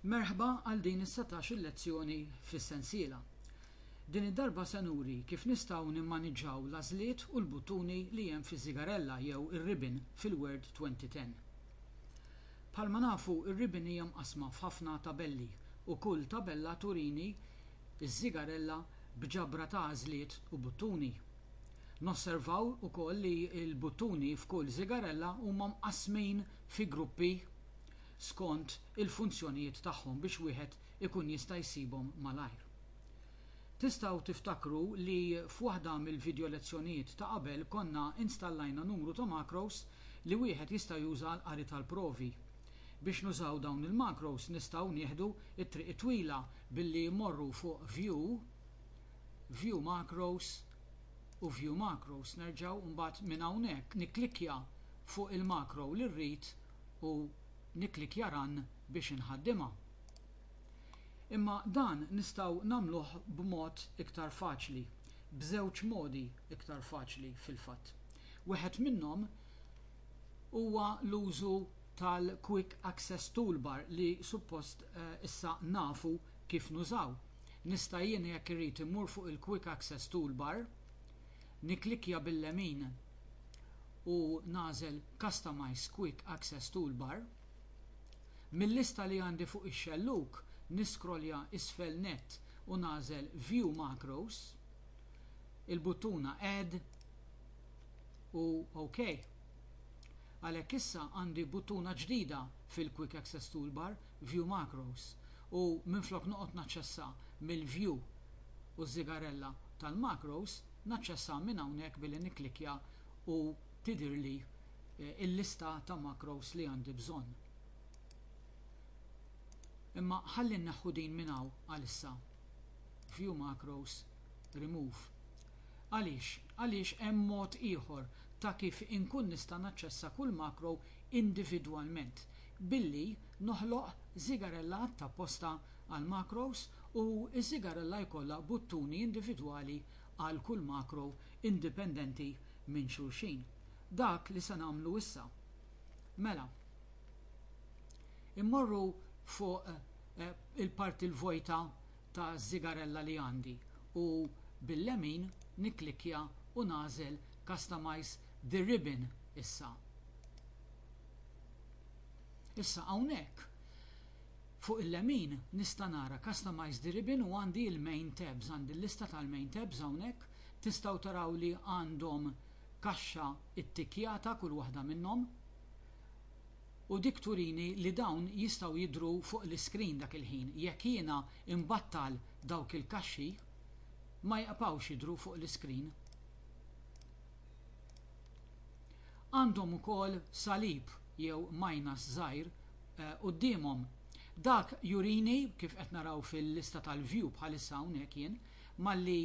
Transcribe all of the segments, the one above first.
Merħba għal din is-setax-il lezzjoni fis-sensiela. Din id-darba se nuri kif nistgħu nimmaniġġaw l-għażliet u l-buttuni li hemm fiż-żigarella jew ir-ribbon fil-Word 2010. Bħalma nafu r-ribbon hija mqassma f'ħafna tabelli u kull tabella turini ż-żigarella b'ġabra ta' għażliet u buttuni. Nosservaw ukoll li l-buttuni f'kull żigarella huma mqassmin fi gruppi skont il-funzjonijiet tagħhom biex wieħed ikun jista' jsibhom malajr. Tistgħu tiftakru li f'waħda mill-vidjolezzjonijiet ta' qabel konna installajna numru ta' macros li wieħed jista' juża għall-qari tal-provi. Biex nużaw dawn il-macros nistgħu nieħdu t-triq it-twila billi mmorru fuq View, View Macros u View Macros nerġgħu u mbagħad minn hawnhekk nikklikkja fuq il-macro li rrid u nikklikkja run biex inħaddimha. Imma dan nistgħu nagħmluh b'mod iktar faċli, b'żewġ modi iktar faċli fil-fatt. Wieħed minnhom huwa l-użu tal-Quick Access Toolbar li suppost issa nafu kif nużaw. Nista' jien jekk irrid immur fuq il-Quick Access Toolbar, Nikklikkja bil-lemin u nagħżel Customize Quick Access Toolbar. Mil-lista li għandi fuq ix-xellug, niskrolja isfel nett u nagħżel View Macros, il-buttuna Add u OK. Għalhekk issa għandi buttuna ġdida fil-Quick Access Toolbar View Macros u minflok noqgħod naċċessa mill-View u ż-żigarella tal-Macros, naċċessa minn hawnhekk billi nikklikkja u tidhirli l-lista ta' Macros li għandi bżonn. Imma ħalli nneħħu din minn hawn għalissa. View Macros, Remove. Għaliex? Għaliex hemm mod ieħor ta' kif inkun nista' naċċessa kull Macro individwalment. billi noħloq żigarella tapposta għall-macros u ż-żigarella jkollha buttuni individwali għal kull macro indipendenti minn xulxin. Dak li se nagħmlu issa. Mela. Immorru fuq il-parti l-vojta ta' żigarella li għandi u bil-lemin nikklikkja u nagħżel Customize the Ribbon issa. Issa hawnhekk fuq il-lemin nista' nara Customize the ribbon u għandi il-main tabs, għandi l-lista tal-main tabs hawnhekk. Tistgħu taraw li għandhom kaxxa ttikkjata kull waħda minnhom u dik turini li dawn jistgħu jidhru fuq l-iscreen dak il-ħin. Jekk jiena imbattal dawk il-kaxxi ma jqbgħux jidhru fuq l-iscreen. Għandhom ukoll salib jew majnas żgħir quddiemhom. Dak jurini, kif qed naraw fil-lista tal-view bħalissa hawnhekk jien, malli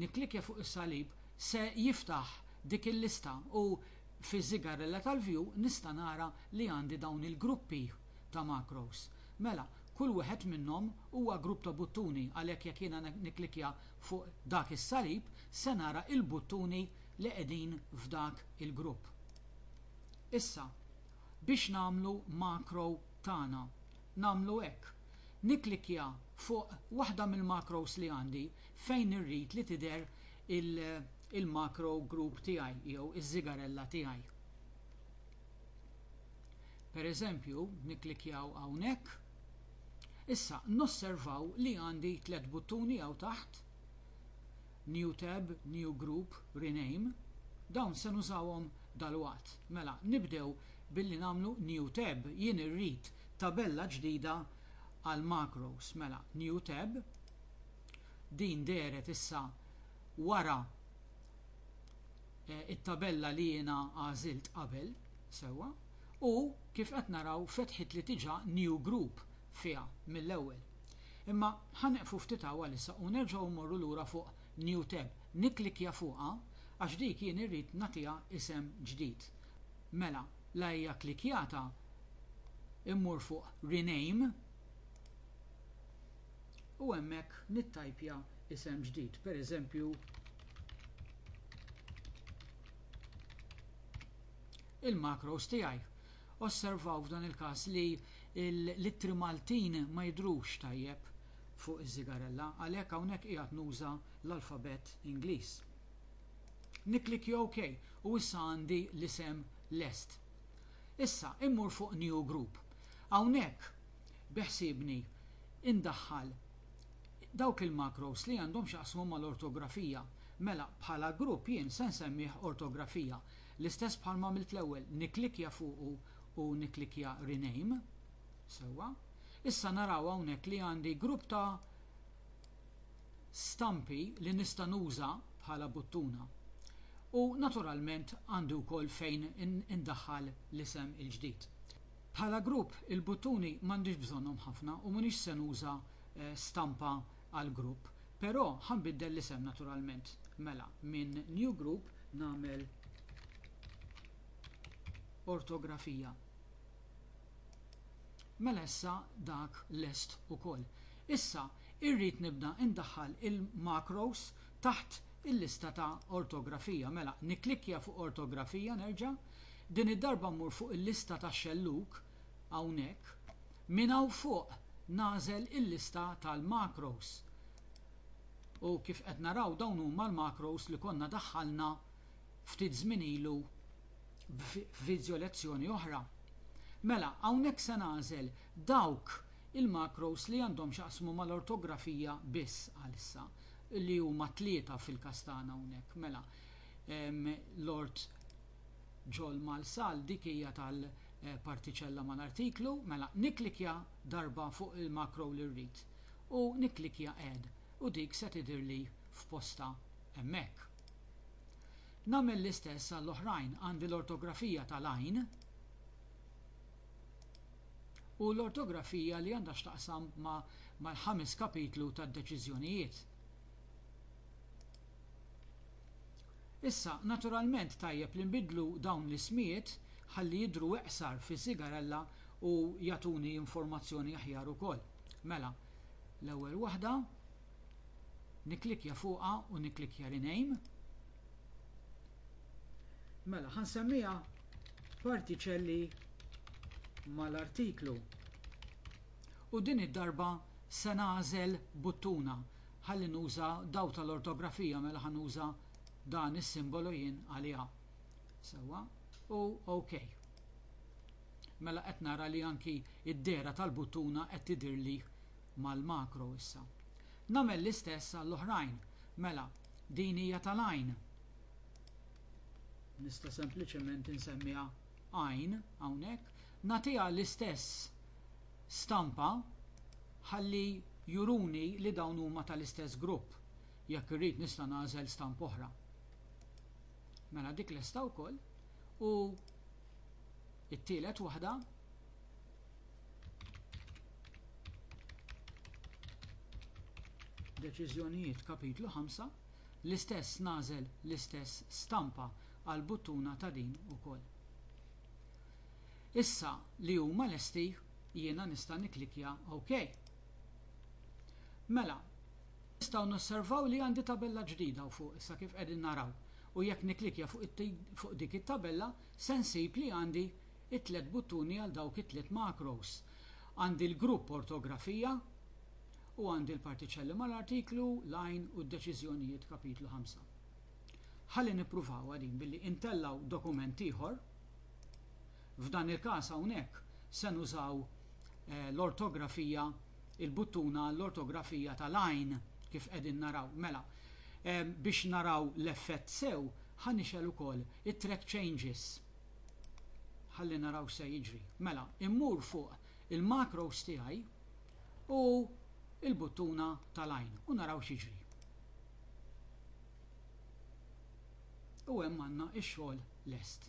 nikklikkja fuq is-salib se jiftaħ dik il-lista u fiż-żigarrella tal-view nista' nara li għandi dawn il-gruppi ta' macros. Mela, kull wieħed minnhom huwa grupp ta' buttuni għalhekk jekk jiena nikklikkja Fuq dak is-salib se nara il-buttuni li qegħdin f'dak il-grupp. Issa, biex nagħmlu macro tagħna, nagħmlu hekk, nikklikkja fuq waħda mill-macros li għandi fejn irrid li tidher il-macro group tiegħi jew iż-żigarella tiegħi. Pereżempju, nikklikkjaw hawnhekk. Issa nosservaw li għandi tliet buttuni hawn taħt, New Tab, New Group, Rename. Dawn se nużawhom dalwaqt. Mela, nibdew billi nagħmlu New Tab. Jien irrid tabella ġdida għall-macros. Mela, New Tab. Din dehret issa wara it-tabella li jiena għażilt qabel, sewwa, u, kif qed naraw, fetħitli diġà new group fiha mill-ewwel. Imma ħa nieqfu ftit hawn għalissa u nerġgħu mmorru lura fuq new tab. Nikklikkja fuqha għax dik jien irrid nagħtiha isem ġdid. Mela, la hija klikkjata, immur fuq rename. u hemmhekk nittajpja isem ġdid, pereżempju il-macros tiegħi. Osservaw f'dan il-każ li l-ittri Maltin ma jidhrux tajjeb fuq iż-żigarella, għalhekk hawnhekk qiegħed nuża l-alfabett Ingliż. Nikklikkja OK u issa għandi l-isem lest. Issa immur fuq New Group. Hawnhekk beħsiebni indaħħal dawk il-macros li għandhom x'jaqsmu mal-ortografija. Mela, bħala grupp jien se nsemmih ortografija. L-istess bħalma għamilt l-ewwel, nikklikkja fuqu u nikklikkja rename. Sewwa. Issa naraw hawnhekk li għandi grupp ta' stampi li nista' nuża bħala buttuna. U naturalment għandi wkoll fejn indaħħal l-isem il-ġdid. Bħala grupp, il-buttuni m'għandix bżonnhom ħafna u m'iniex se nuża stampa għall-grupp. Però ħa nbiddel l-isem naturalment. Mela, minn New Group nagħmel Ortografija. Mela issa dak lest ukoll. Issa irrid nibda indaħħal il-macros taħt il-lista ta' Ortografija. Mela, nikklikkja fuq Ortografija nerġa'. Din id-darba mmur fuq il-lista ta' xellug, hawnhekk. Minn hawn fuq nagħżel il-lista tal-macros. U kif qed naraw dawn huma l-macros li konna daħħalna ftit żmien ilu f'vidjo lezzjoni oħra. Mela, hawnhekk se nagħżel dawk il-macros li għandhom x'jaqsmu mal-ortografija biss għalissa, li huma tlieta fil-każ tagħna hawnhekk. Mela, Lord Ġol Malsal dik hija tal-partiċella eh, mal-artiklu, mela niklikja darba fuq il-makro li rrid u niklikja add u dik se tidhirli f'posta hemmhekk. Nagħmel l-istess għall-oħrajn għandi l-ortografija tal-għajn u l-ortografija li għandha x'taqsam mal-ħames kapitlu tad-deċiżjonijiet. Issa, naturalment tajjeb li nbiddlu dawn l-ismijiet ħalli jidhru iqsar fi Sigarella u jagħtuni informazzjoni aħjar ukoll. Mela, l-ewwel waħda, nikklikkja fuqha u nikklikkja Rename. Mela, ħa nsemmiha Partiċelli mal-Artiklu. U din id-darba se nagħżel buttuna Ħalli nuża daw tal-ortografija mela ħa nuża dan is-simbolu jien għaliha. Sewwa, u OK. Mela qed nara li anki d-dehra tal-buttuna qed tidhirli mal-makro issa. Nagħmel l-istess għall-oħrajn. Mela, din hija tal-għajn. Nista' sempliċement insemmiha għajn hawnhekk. Nagħtiha l-istess stampa ħalli juruni li dawn huma tal-istess grupp. Jekk irrid nista' nagħżel stampa oħra. Mela dik lesta wkoll u it-tielet waħda deċiżjonijiet kapitlu 5 l-istess nagħżel l-istess stampa għall-buttuna ta' din ukoll. Issa li huma lesti jiena nista' nikklikkja OK. Mela, nistgħu nosservaw li għandi tabella ġdida hawn fuq issa kif qegħdin naraw u jekk nikklikkja fuq dik it-tabella se nsib li għandi t-tliet buttuni għal dawk it-tliet macros. Għandi l-grupp Ortografija u għandi l-partiċelli mal-artiklu, line u d-deċiżjonijiet kapitlu ħamsa. Ħalli nippruvawha din billi intellgħu dokument ieħor. F'dan il-każ hawnhekk se nużaw l-ortografija, il-buttuna għall-ortografija tal-għajn, kif qegħdin naraw. Mela, biex naraw l-effett sew, ħa nixgħel ukoll it-Track Changes. Ħalli naraw x'se jiġri. Mela, immur fuq il-macros tiegħi u l-buttuna tal-għajn u naraw x'jiġri. U hemm għandna x-xogħol lest.